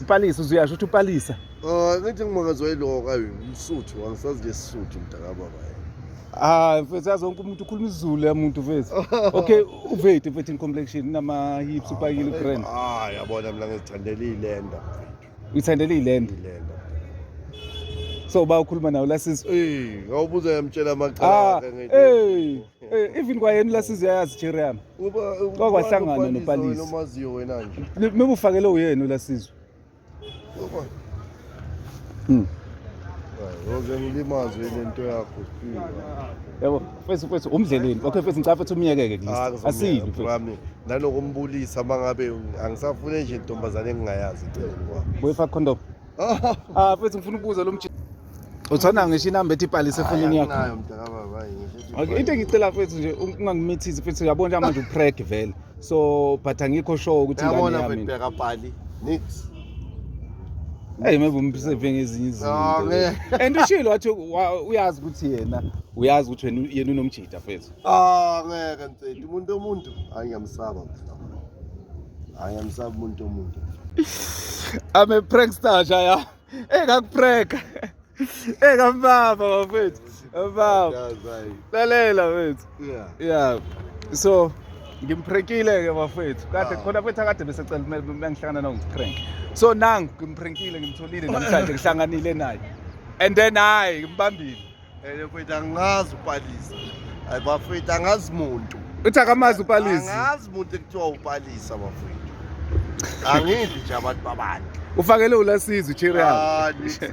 Mpalisa uzuyasho ukuthi upalisa. Oh, ngithi ngimangazwa iloka umsuthu angisazi nje isisuthu mntakababa. Ah, mfethu yazi wonke umuntu ukhuluma isiZulu ya muntu mfethu. Okay, uveti mfethu in complexion nama hips upakile brand. Ah, yabona mina ngizithandela ilenda mfethu. Uyithandela ilenda? Ilenda. So ba ukhuluma nawo la sisi. Eh, ngawubuza yamtshela amaqala ah, ke ngithi. Eh. Eh, even kwayena ulasizi uyayazi jerry yami kwakwahlangana nopalisi omaziyo wena nje noma ufakele uyena ulasizi hmm. Yoze ngilimaze lento yakho siphiwe. Yabo, mfethu mfethu umdleleni. Okay mfethu ngicela mfethu umyekeke kulist. Ah, Asile mfethu. Ngami nanokumbulisa mangabe angisafune nje intombazane engingayazi cela. Boyfa condom. Ah, mfethu ngifuna ukubuza lo mjini. uthona ngisho inamba ethi ibhalise efonini yakho nayo mdaka baba ngisho okay into engicela fethu nje ungangimithizi fethu uyabona nje manje upreg vele so but angikho sure ukuthi ngani yabona yami fethu bheka pali nix Hey maybe umseve ngezinye izinto. Ah, ne. And ushilo wathi wa- uyazi ukuthi yena uyazi ukuthi wena yena unomjita fethu. ah ngeke mfethu umuntu omuntu hayi ngiyamsaba mfethu hayi ngiyamsaba umuntu omuntu I'm a prankster nje ya. Hey ngakupreka. Hey ngambaba bafethu. Baba. Lalela mfethu. Yeah. Yeah. So ngimphrenkile ke bafethu kade khona mfethu akade bese cela bengihlangana nawo ngiprank so nangu ngimphrenkile ngimtholile namhlanje ngihlanganile naye and then hayi ngimbambile Ene mfethu angazi upalisa. Hayi bafethu angazi muntu. Uthi akamazi upalisa. Angazi muntu ekuthiwa upalisa bafethu. Angidli nje abantu babandla. Ufakele ulasizwe ichiri yakho. Ah, ngeke.